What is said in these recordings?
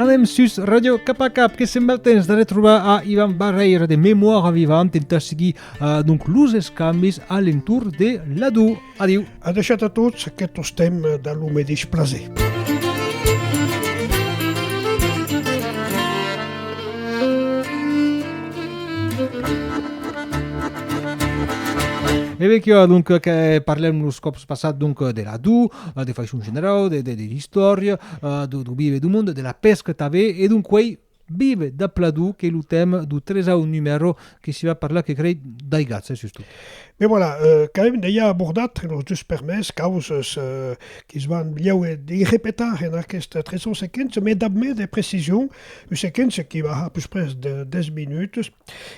Anem sus Radio Cap a Cap, que sembla el temps de retrobar a Ivan Barreira de Memòria Vivant, intentar seguir eh, donc, los escambis a l'entour de l'adou. Adiu. A deixat a tots aquests temps de lo medeix plaser. E ben que donc que parlem los còps passat donc de la du, de façon generau, de, de, de l'istòria, do, do vive do monde, de la pesca tanben, e donc uei vive da Pladou qu'es lo tèma do tresau numèro que s'i va parlar que crei d'aigatz, eh, sustot. Ben voilà, quand même deia abordat los dus permés causes que's van bliaue de repetar en aquest tresau sequent, me dab mès de precision, Ua sequéncia que va a pus pres de 10 minuts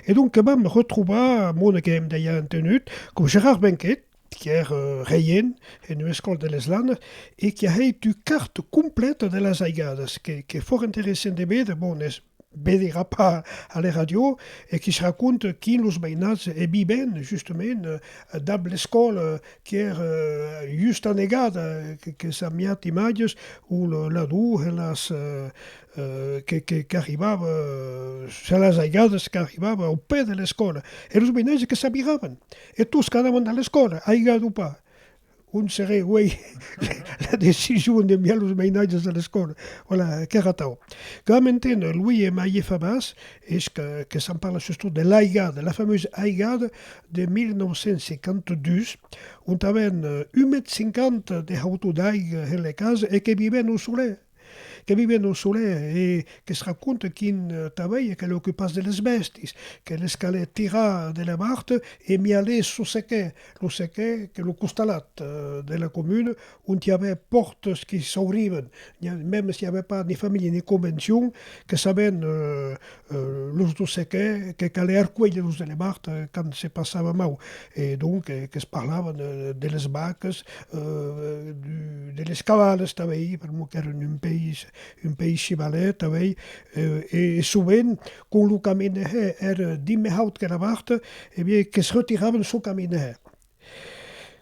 e donc que vam retrobar a Mona que èm dejà entenut coma Gerard Benquet qu'èr reient en ua escòla de les Landes e qui a hèit ua carta completa de las aigadas que qu'es fòrt interessant de véder, bon es vedera pas a la ràdio e quis raconta quin los mainats e viven justament dab l'escòla qu'ère justa negada, que s'amiat imatges o la dohelas qu'arribava, se las aigades qu'arribava au pè de l'escòla, e los menages que s'abiravan, e tots qu'anavan a l'escòla, aigade o pas, on seré uei la decision d'enviar los menages a l'escòla, voilà, qu'ère atau. Qu'am enténer, lui e Maie Fabas, Es que, que s'en parla sustot de l'Aigada, de la famosa Aigada de 1952, ont avèn un mètre cinquanta de hautor d'aiga en lei casa e que vivèn au solèr, que vivèn au solèr e que se raconta qu'un tavèia que l'ocupàs de les bèstis, que les calè tirar de la barta e mialés lo sequèr, lo sequèr que lo costalat de la comuna ont i avè pòrtas que s'aurivan, mèm s'i avè pas ni familha ni convencion, que sabèn los dos se qué, que calè arcuélher los elevart quand se passava mau, e donc que's parlavan de les vacas, de les cavalas tanbèi, per mot qu'èran un país, un país chivalèr tanbèi, e sovent quand lo caminèr èra dimbe haut que la vart, e bien que's retiravan çò caminèr,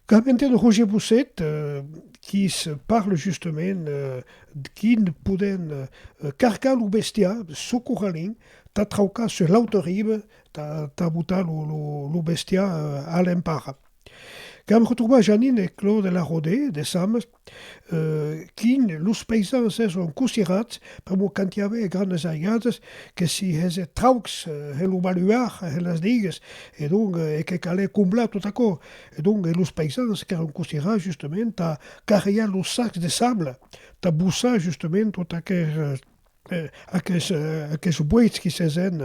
Quand m'entend Roger Bousset qui se parle justement d'quin podent carcar lo bestiar çò corralin tà traucar sus l'auta riba tà botar lo bestiar a l'empara. Quand me retrobà Janine e Claude Larode de Sames Quin los paisans èson cosirats pr'amor qu'anti avè hè grandes aigadas que si hèse traucs hè lo baluar hè las digues e donc e que calè comblar tot aquò e donc e los paisans qu'èron cosirats justament tà carrejar los sacs de sable tà bossar justament tot aqueth Aqueths boits qui s'aisèn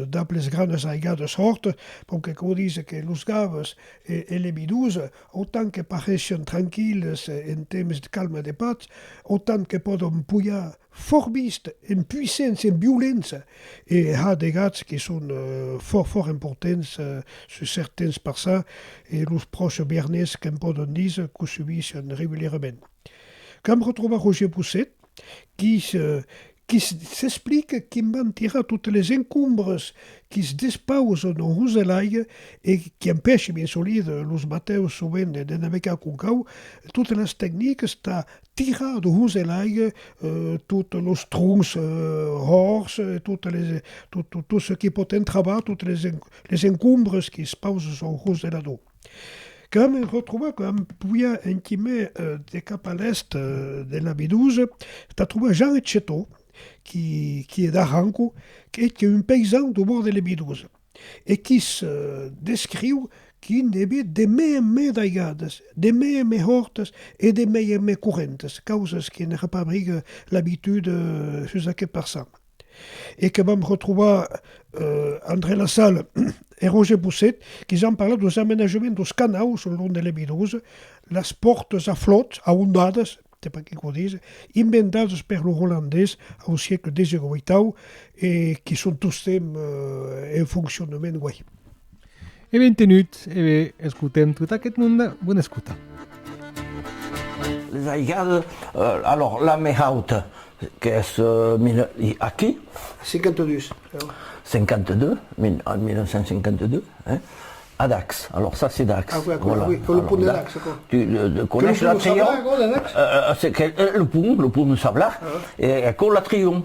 dab les granes aigades hòrt, bon que quò dise que los gaves e les bidons, autant que parèishen tranquilles en temps calme de patz, autant que pòdon pujar fòrt vist, en puissents, en violents, e ha de gats qui son fòrt fòrt emportents sus cèrt temps passat, e los pròches biernés que'm pòdon dise qu'o subishen regulierament. Que'm retròba Roger Bousset. qui s'explique que'n van tirar totes les encombres qui's despausen en roselaire e qui empèche bien solide los batèus sovent de navegar con cau, totes las tecniques tà tirar de roselaire totes los troncs ròrds e tot çò qui pòt entravar totes les encombres qui's pausen sul roselador. Quand me retrobar quan poiá enquimè de cap a l'èst de la Medusa, tà trobar Jean eth Chetó, qui hè d'Arranco, qu'eth qu'è un peisan do bòrd de la Medusa, e qui's descriu qui ne bè de mè en mè d'aigadas, de mè en mè hòrtas e de mè en mè correntes, causas que ne repabrigue l'abitud sus aqueth parçan. e que vam retrobar eh André Lassalle e Roger Bousset que ja an parlat dos amenajaments dos canaus lo long de l'Ebidosa, las pòrtas a flòt, aondadas, se pas qui quò dise, inventadas per los Olandés au siecle xviii e qui son tostemps en foncionament uèi. E bentenut e be escotem tot aquest monde, bona escota. Les aigales, alors la mai hauta qu'es aquí. 52, heu. 52, en 1952, hein, a Dax, alors ça c'est Dax. Aquò, aquò, oui, que le pont de Dax, aquò. Tu le coneis la Triomf? Que le pont de Dax? Le pont, le pont de Sablach, e aquò la Triomf.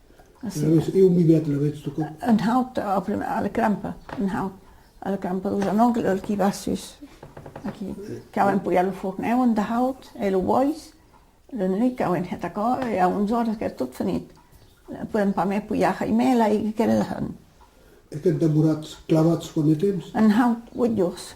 Eu mi vet la vet stucau. Un haut au primer a la crampa, un haut a la crampa lo genolh el qui va sus aquí cau empolhar lo forn eu un haut e lo bois la nuit cau en heta cò e a 11 oras qu'es tot finit podem pas mai polhar jaimè l'aiga que la hèn. E qu'es demorats clavats quant de temps? Un haut 8 jors.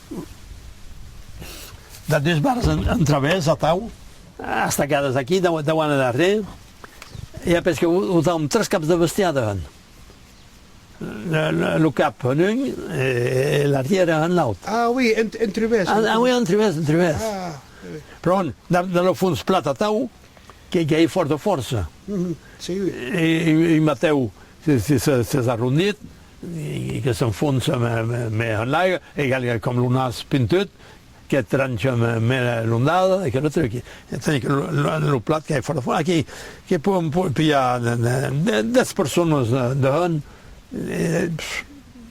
Dab des bars en travèrs, atau, estacadas aquí, dau an endarrèr, i a pesque autam tres caps de bestiar dehant, lo cap en un e l'arrièr en l'aut. Ah, oui, en trivèrs. Ah, oui, en trivèrs, en trivèrs. Ah, oui. Pron, dab lo fons plat atau, que i ei fòrta fòrça. Si, oui. E un matèu s'es arrondit, e que s'enfonça mai en l'aiga, egal que com lo nas pintut que trancha mai l'ondada e que lo truqui, tanben que lo plat qu'ai fòra fòra, aquí que pòdon pilhar dètz personas dehònt,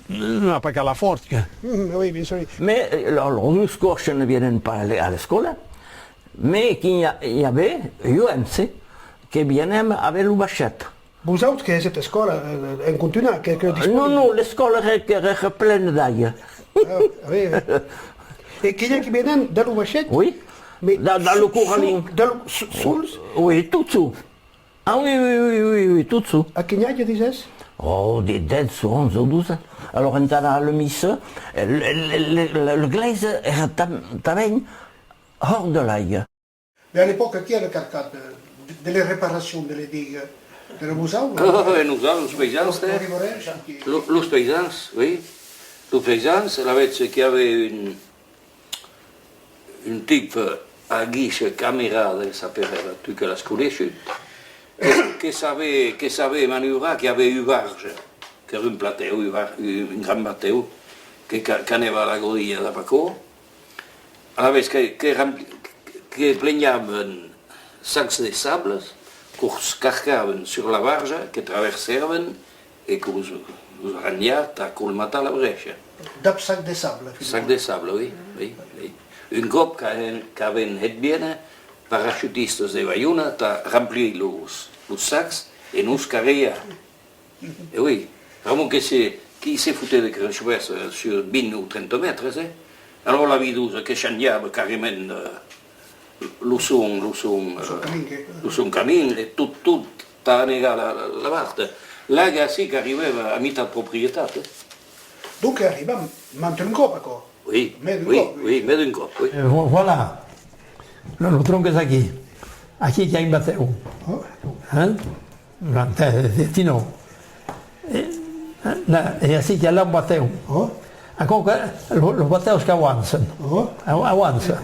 non a pas qu'alar fòrt que. Oui, bien sûr. Mai lor dus còrses ne vienen pas a l'escòla, mai quin i a, i a be, jo èm se, que vienem a be lo baishet. Vos autres que èsset escòla, en contunhar, que que disposi? Non, non, l'escòla ère plena d'aiga. Ah, oui, oui. E que i a qui venen de lo vaishèth? Oui, de lo corralin. De lo, sols? Oui, tot sol. Ah, oui, oui, oui, oui, oui, tot sol. A quin age disès? Oh, de dètz, onze o doze. Alòra entà anar a la missa, l'eglèisa ère tanben hòrt de l'aiga. Mais à l'epoca qui a recartat de les reparations de les digues de la Moselle? Eeh nosautres, los paysans, eh? Los paysans, oui. Los paysans, alavetz qu'i ave un un tip a guiche Camerat del Saperet, tu que l'as coneishut, que savè que savè maniuvrar, qu'i ave ua barge, qu'ère un platèu, un gran batèu, que qu'anèva a la godilha d'a Bacó, Alavetz que plenhaven sacs de sables, qu'os carcaven sur la barja, que traversèaven e que los ranhia tà colmatar la brecha. Dab sac de sable, Filipon? Sac de sable, oi, oi, oi. Un còp qu'aven hèt viene parachutistas de Baiona tà ramplir los sacs e nos carriar. E ui, Ramon que se, qui se foté de Cranchoberç sur 20 ou 30 mètres, eh? Alors la vidosa que changiava carrement lo son, lo son, lo son camin, e tot, tot, tà anegar la, la vart, laga ací qu'arribèva a mitat proprietat, eh? Donque arribam mand d'un còp aquò? Ui, ui, ui, mè d'un còp, ui. Voilà! Lo, lo tronc es aquí, aquí qu'i a un batèu, eh? Ti non. E a si chi allà un bateu. Ancò que los bateus qu'auançan. Auança.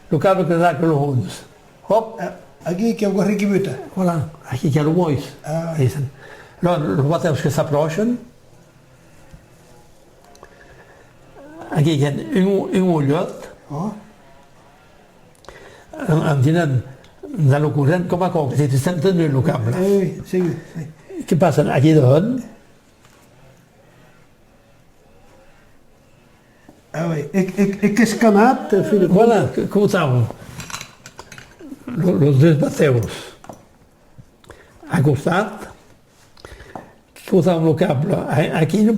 Lo cabre que zaca lo hons. Hop. Aquí qu'i a un gorri qui buta. Voilà. Aquí qu'i a lo bois. Dicen. Lo los bateus que s'apròchan. Aquí qu'i a un olhot. En dinant dans lo corrent coma aquò que se te sent tenir lo cap blas. Oui, oui, segur, oui. Que passa aquí dehont? Ah oui, e, e, e qu'es camat, en fin de compte. Voilà, que cotam. Los deus batèus a costat, cotam lo cap blas. Aquí non,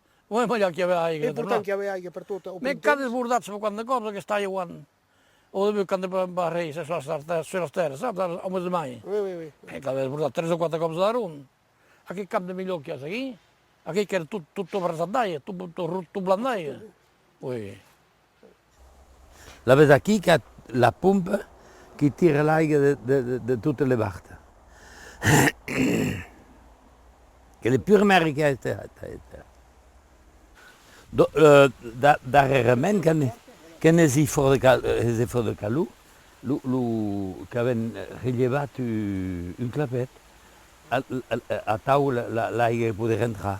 Oi malhar qu'i ave aiga. Ei portant qu'i ave aiga per tot o prim temps. Qu'an desbordat se quant de còps aquesta aia uan o debut qu'an de pas rei se sòs d'artès sur las tèrres, saps, ara ome de mai. Oi, oi, oi. Ei qu'ave desbordat tres o quate còps de daron aquei camp de milhor qu'i as aquí, aquei qu'ère tot tot tot abraçat d'aia, tot tot rot, tot blan d'aia. Oi. La ves aquí qu'a la pompa qui tira l'aiga de totes les bartes. Qu'elle est pure merrica esta hèta. Darrèrament que n'es i fòrt de calor, qu'avèm relhevat un clapet, atau l'aiga que podé rentrar.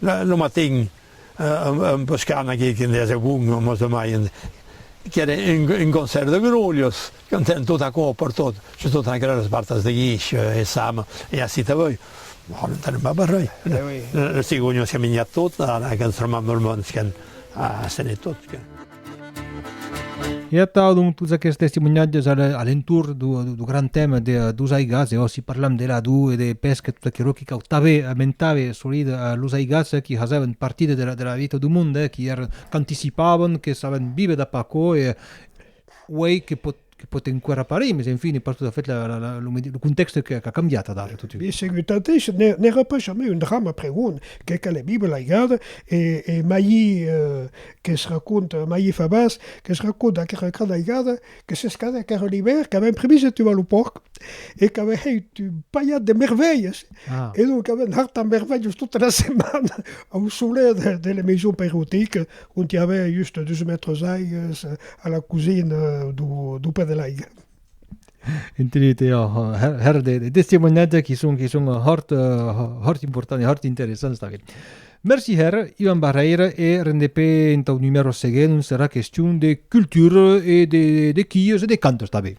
Lo matin, en pescant aqui que deia segon lo mos demaien, qu'ère un concèrt de grolhos, cantauen tot aquò pertot, sus totas aquelas esbartas de guish e saba, e ací tanben, bon, non tenem pas barrèr, los cigònhos qu'an minjat tot, ara qu'an tremant lo mond, qu'an asenhat tot. E atau donc tots aquests testimonhatges a l'entorn du grand tèma dos aigats, e òsi parlam de l'ador e de pesca, tot aquerò qui cautave, amentave solide los aigats qui fasèvan partida de la vita du monde, qui èran qu'anticipavan, que savan viver dap'aquò e uèi que Que pòt enqüèra parir, mes enfin es pas tot a fait lo contèxte qu'a cambiat adara totun. Be segut tanténs, n'èra pas jamai un drama pregon que qu'a la Bibla laigada, e mai que's racònta, mai e fa bas, que's racònta aquera gran aigada que s'escadèc ara l'ivèrn, qu'avèm primiz de tuar lo pòrc e qu'avèm hèit un palhat de mervèlhas, e donc avèm hartat mervèlhas tota la setmana au solet de la maison pairotica, ont i avèa just dus mètres d'aigues a la cosina do pè de l'aiga. Entenut, e hèr de testimoniatge qui son, qui son hòrt, hòrt important e hòrt interessants tanben. Merci hèr, Ivan Barrèira, e rendepè entau numèro seguent ont serà question de cultura e de, de quios e de cantos tanben.